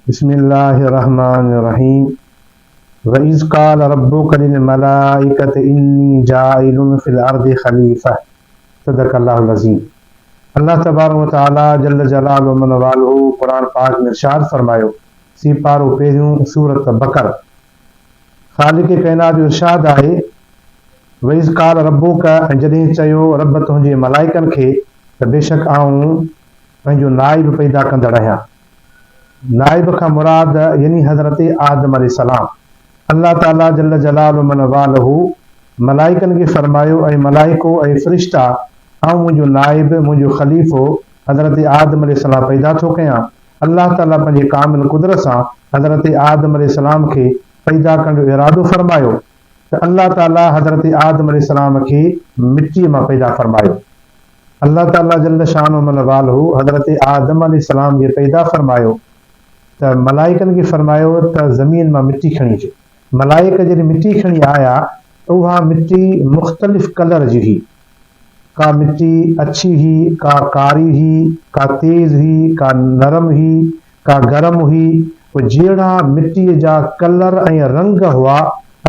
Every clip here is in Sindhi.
بسم الله الرحمٰن الرحيم واذ قال ربک للملائکة انی جاعل في الارض خليفة صدق الله العظيم الله تبارڪ وتعالي جل جلال و من والهه قرآن پاڪ ۾ ارشاد فرمايو سي پارو پهريون سورة بقر خالق ڪائنات جو ارشاد آهي واذ قال ربک ۽ جڏهن چيو رب تنهنجي ملائڪن کي ته بيشڪ آئون پنهنجو نائب پيدا ڪندڙ آهيان نائب کان مراد يعني حضرت آدم عليه السلام. الله تعالي جل جلال و من والاه ملائڪن کي فرمايو، اي ملائڪو، اي فرشتا، آئون منهنجو نائب، منهنجو خليفو، حضرت آدم عليه السلام پيدا ٿو ڪيان. الله تعالي پنهنجي ڪامل قدرت سان حضرت آدم عليه السلام کي پيدا ڪرڻ جو ارادو فرمايو ته الله تعالي حضرت آدم عليه السلام کي مٽيء مان پيدا فرمايو. الله تعاليٰ جل شانه من والهه حضرت آدم عليه السلام کي پيدا فرمايو ته ملائڪن کي فرمايو ته زمين مان مٽي کڻي اچو. ملائڪ جڏهن مٽي کڻي آيا ته اها مٽي مختلف ڪلر جي هئي. ڪا مٽي اڇي هئي، ڪا ڪاري هئي، ڪا تيز هئي، ڪا نرم هئي. ڪا گرم هئي، پوء جهيڙا مٽيء جا ڪلر ۽ رنگ هئا.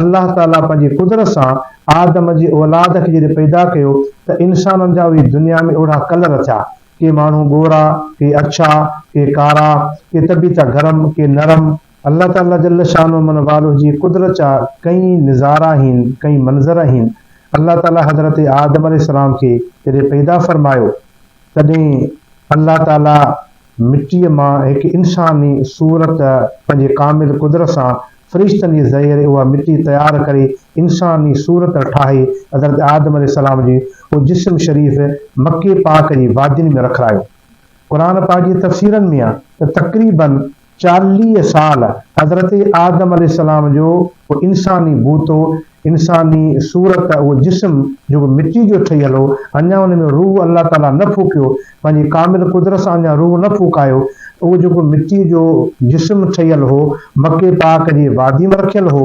الله تعاليٰ پنهنجي قدرت سان آدم جي اولاد کي جڏهن پيدا ڪيو ته انسانن جا اهي دنيا ۾ اوڙها ڪلر ٿيا. ڪي ماڻهو ڳورا، ڪي اڇا، ڪي ڪارا، ڪي ته به ٿيا گرم، ڪي نرم. الله تعاليٰ جل شانه من والوه جي قدرت جا ڪئين نظارا هين، ڪئين منظر هين. الله تعاليٰ حضرت آدم عليه السلام کي جڏهن پيدا فرمايو تڏهن الله تعاليٰ. مٽيء مان هڪ انساني صورت پنهنجي ڪامل قدرت سان فرشتن جي ذريعي اها مٽي تيار ڪري انساني صورت ٺاهي حضرت آدم عليه السلام جي اهو جسم شريف مڪي پاڪ جي وادين ۾ رکرايو. قرآن پاڪ جي تفسيرن ۾ آهي ته تقريباً چاليهه سال حضرت آدم عليه السلام جو اهو انساني بوتو انساني صورت اهو جسم جيڪو مٽي جو ٺهيل هو، اڃا ان ۾ روح الله تعاليٰ نه ڦوڪيو، پنهنجي ڪامل قدرت سان اڃا روح نه ڦوڪايو، اهو جيڪو مٽي جو جسم ٺهيل هو، مڪي پاڪ جي واديء ۾ رکيل هو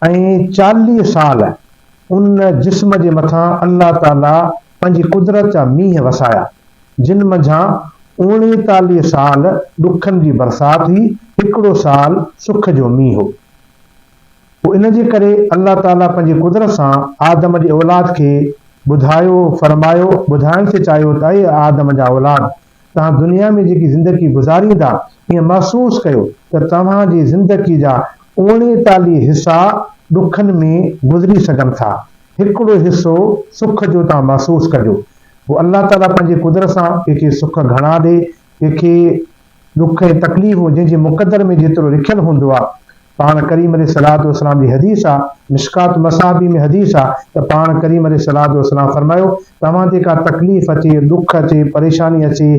۽ چاليهه سال ان جسم جي مٿان الله تعاليٰ پنهنجي قدرت جا مينهن وسايا، جن منجهان اوڻيتاليهه سال ڏکن جي برسات هئي، هڪڙو سال سک جو مينهن هو. پوء ان جي ڪري الله تعاليٰ پنهنجي قدرت سان آدم جي اولاد کي ٻڌايو، فرمايو، ٻڌائڻ ٿي چاهيو ته اي آدم جا اولاد! توهان دنيا ۾ جيڪي زندگي گذاريندا، ائين محسوس ڪيو ته توهان جي زندگي جا اوڻيتاليهه حصا ڏکن ۾ گذري سگهن ٿا، هڪڙو حصو سک جو توهان محسوس ڪجو. پوء الله تعاليٰ پنهنجي قدرت سان ڪنهن کي سک گهڻا ڏي، ڪنهن کي. ڏک ۽ تڪليف هو جنهن جي مقدر ۾ جيترو لکيل هوندو آ پاڻ ڪريم عليه الصلوة والسلام جي حديث آ مشڪات مصابيح ۾ حديث آ ته پاڻ ڪريم عليه الصلوة والسلام فرمايو توهان تي ڪا تڪليف اچي ڏک اچي پريشاني اچي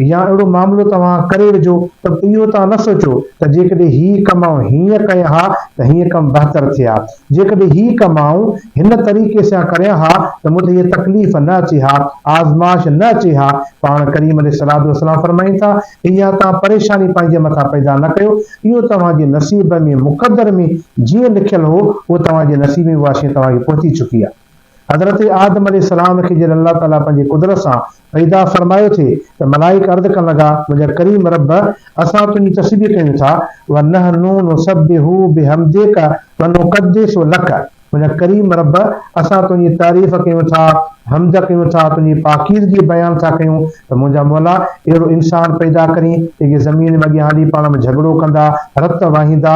يا اهڙو معاملو توهان ڪري وجهو ته اهو توهان نه سوچو ته جيڪڏهن هي ڪم آئون هينئن ڪيان ها ته هينئن ڪم بهتر ٿئي ها جيڪڏهن هي ڪم آئون هن طريقي سيان ڪريان ها ته مون تي هيء تڪليف نه اچي ها، آزمائش نه اچي ها. پاڻ ڪريم عليه الصلواة والسلام فرمائين ٿا، اها توهان پريشاني پنهنجي مٿان پيدا نه ڪيو، اهو توهان جي نصيب ۾، مقدر ۾، جيئن لکيل هو، اهو توهان جي نصيب ۾ به اها شيء توهان کي پهچي چڪي آهي. حضرت آدم عليه السلام کي جڏهن الله تعاليٰ پنهنجي قدرت سان پيدا فرمايو ٿي ته ملائڪ عرض ڪرڻ لڳا، منهنجا ڪريم رب! اسان تنهنجي تسبيح ڪيون ٿا، ونحن نسبح بحمدک ونقدس لک، منهنجا ڪريم رب! اسان تنهنجي تعريف ڪيون ٿا، حمد ڪيون ٿا، تنهنجي پاڪيزگي بيان ٿا ڪيون ته منهنجا مولا! اهڙو انسان پيدا ڪرين، جيڪي زمين ۾ اڳيان هلي پاڻ ۾ جهڳڙو ڪندا، رت وهائيندا،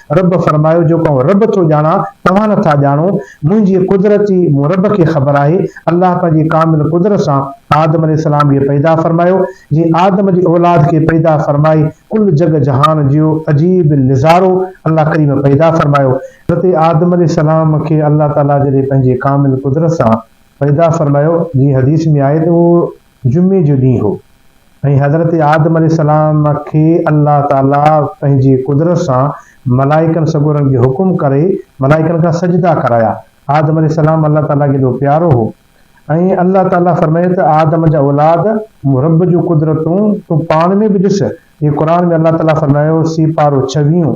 رب فرمايو، جو ڪنهن رب ٿو ڄاڻان، توهان نه ٿا ڄاڻو، منهنجي قدرتي مون رب کي خبر آهي، الله پنهنجي ڪامل قدرت سان آدم عليه السلام کي پيدا فرمايو، جي آدم جي اولاد کي پيدا فرمائي ڪل جڳ جهان جيو عجيب نظارو الله ڪريم پيدا فرمايو، اتي آدم عليه السلام کي الله تعالي جڏهن پنهنجي ڪامل قدرت سان پيدا فرمايو، جيئن حديث ۾ آهي ته اهو. جمعي جو ڏينهن هو ۽ حضرت آدم عليه السلام کي الله تعالي پنهنجي قدرت سان ملائڪن سڳورن کي حڪم ڪري ملائڪن کان سجدا ڪرايا. آدم عليه السلام الله تعالي کي ايڏو پيارو هو ۽ الله تعالي فرمايو ته آدم جا اولاد مون رب جون قدرتون تون پاڻ ۾ به ڏس. هي قرآن ۾ الله تعالي فرمايو، سيپارو ڇويهون،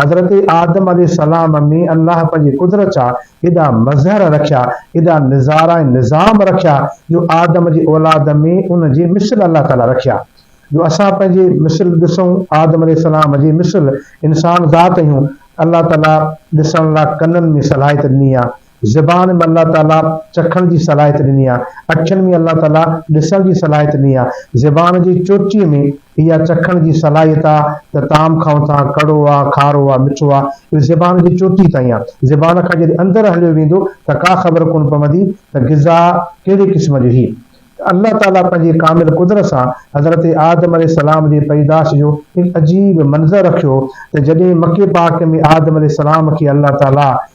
حضرت آدم عليه السلام ۾ الله پنهنجي قدرت جا ايڏا مظهر رکيا، ايڏا نظارا ۽ نظام رکيا جو آدم جي اولاد ۾ ان جي مثل الله تعاليٰ رکيا جو اسان پنهنجي مثل ڏسون، آدم عليه السلام جي مثل انسان ذات اهيون الله تعاليٰ ڏسڻ لا ڪنن ۾ صلاحيت ڏني آهي. زبان ۾ الله تعاليٰ چکڻ جي صلاحيت ڏني آهي. اکين ۾ الله تعاليٰ ڏسڻ جي صلاحيت ڏني آهي. زبان جي چوٽيء ۾ اها چکڻ جي صلاحيت آهي ته طعام کائون ٿا، ڪڙو آهي، کارو آهي، مٺو آهي، اهو زبان جي چوٽيء تائين آهي. زبان کان جڏهن اندر هليو ويندو ته ڪا خبر ڪونه پوندي ته غذا ڪهڙي قسم جو هي. ته الله تعاليٰ پنهنجي ڪامل قدرت سان حضرت آدم عليه السلام جي پيدائش جو هڪ عجيب منظر رکيو ته جڏهن مڪي پاڪ ۾ آدم عليه السلام کي الله تعاليٰ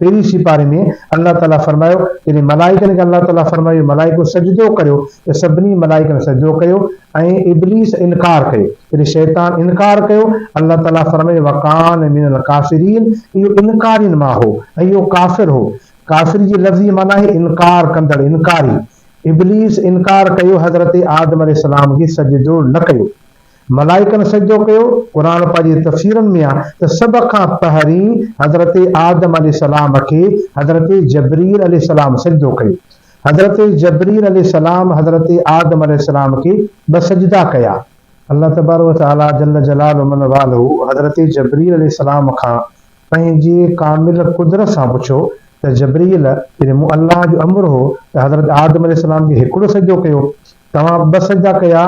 پهرين سيپاري ۾ الله تعالي فرمايو، جڏهن ملائڪن کي الله تعالي فرمايو، اي ملائڪو! سجدو ڪريو، ته سڀني ملائڪن سجدو ڪيو ۽ ابليس انڪار ڪيو، يعني شيطان انڪار ڪيو، الله تعالي فرمايو، وڪان من الڪافرين، اهو انڪارين مان هو ۽ اهو ڪافر هو، ڪافر جي لفظي معنيٰ آهي انڪار ڪندڙ، انڪاري، ابليس انڪار ڪيو، حضرت آدم عليه السلام کي سجدو نه ڪيو، ملائڪن سجدو ڪيو، قرآن پاڪ جي تفسيرن ۾ آهي ته سڀ کان پهرين حضرت آدم عليه السلام کي حضرت جبريل عليه السلام سجدو ڪيو. حضرت جبريل عليه السلام حضرت آدم عليه السلام کي ٻه سجدا ڪيا. الله تبارڪ و تعاليٰ جل جلاله ومن والاه حضرت جبريل عليه السلام کان پنهنجي ڪامل قدرت سان پڇيو ته جبريل جڏهن مون الله جو امر هو ته حضرت آدم عليه السلام کي هڪڙو سجدو ڪيو توهان ٻه سجدا ڪيا،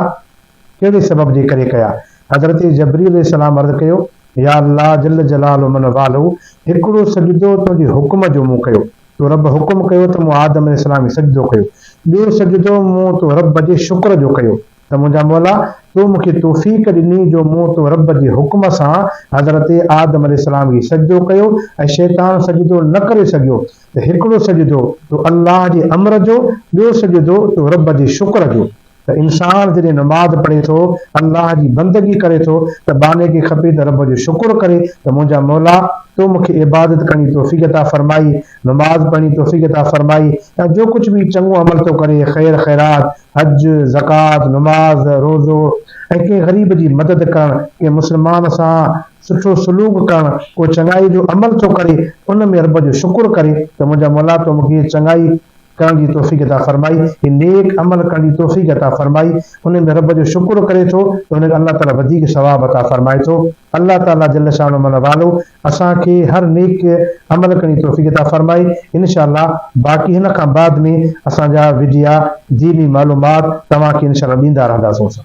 ڪهڙي سبب جي ڪري ڪيا؟ حضرت جبريل عليه السلام عرض ڪيو، يا الله جل جلاله من والاه هڪڙو سجدو تنهنجي حڪم جو مون ڪيو، تو رب حڪم ڪيو ته مون آدم عليه السلام کي سجدو ڪيو، ٻيو سجدو مون تو رب جي شڪر جو ڪيو ته منهنجا مولا تو مون کي توفيق ڏني جو مون تو رب جي حڪم سان حضرت آدم عليه السلام کي سجدو ڪيو ۽ شيطان سجدو نه ڪري سگهيو ته هڪڙو سجدو تو الله جي امر جو ٻيو سجدو تو رب جي شڪر جو ته انسان جڏهن نماز پڙهي ٿو، الله جي بندگي ڪري ٿو ته ٻانهي کي کپي ته رب جو شڪر ڪري ته منهنجا مولا تو مون کي عبادت ڪرڻ جي توفيق عطا فرمائي، نماز پڙهڻ جي توفيق عطا فرمائي ۽ جو ڪجهه به چڱو عمل ٿو ڪري، خير خيرات، حج، زڪوات، نماز، روزو ۽ ڪنهن غريب جي مدد ڪرڻ، ڪنهن مسلمان سان سٺو سلوڪ ڪرڻ، ڪو چڱائي جو عمل ٿو ڪري ان ۾ رب جو شڪر ڪري ته منهنجا مولا تو مون کي چڱائي ڪرڻ جي توفيق عطا فرمائي، هي نيڪ عمل ڪرڻ جي توفيق عطا فرمائي، ان ۾ رب جو شڪر ڪري ٿو ته هن کي الله تعالي وڌيڪ ثواب عطا فرمائي ٿو. الله تعالي جل شان و من والو اسان کي هر نيڪ عمل ڪرڻ جي توفيق عطا فرمائي، انشاء الله باقي هن کان بعد ۾ اسان جا وڊيا ديني معلومات توهان کي انشاء الله ڏيندا رهنداسون.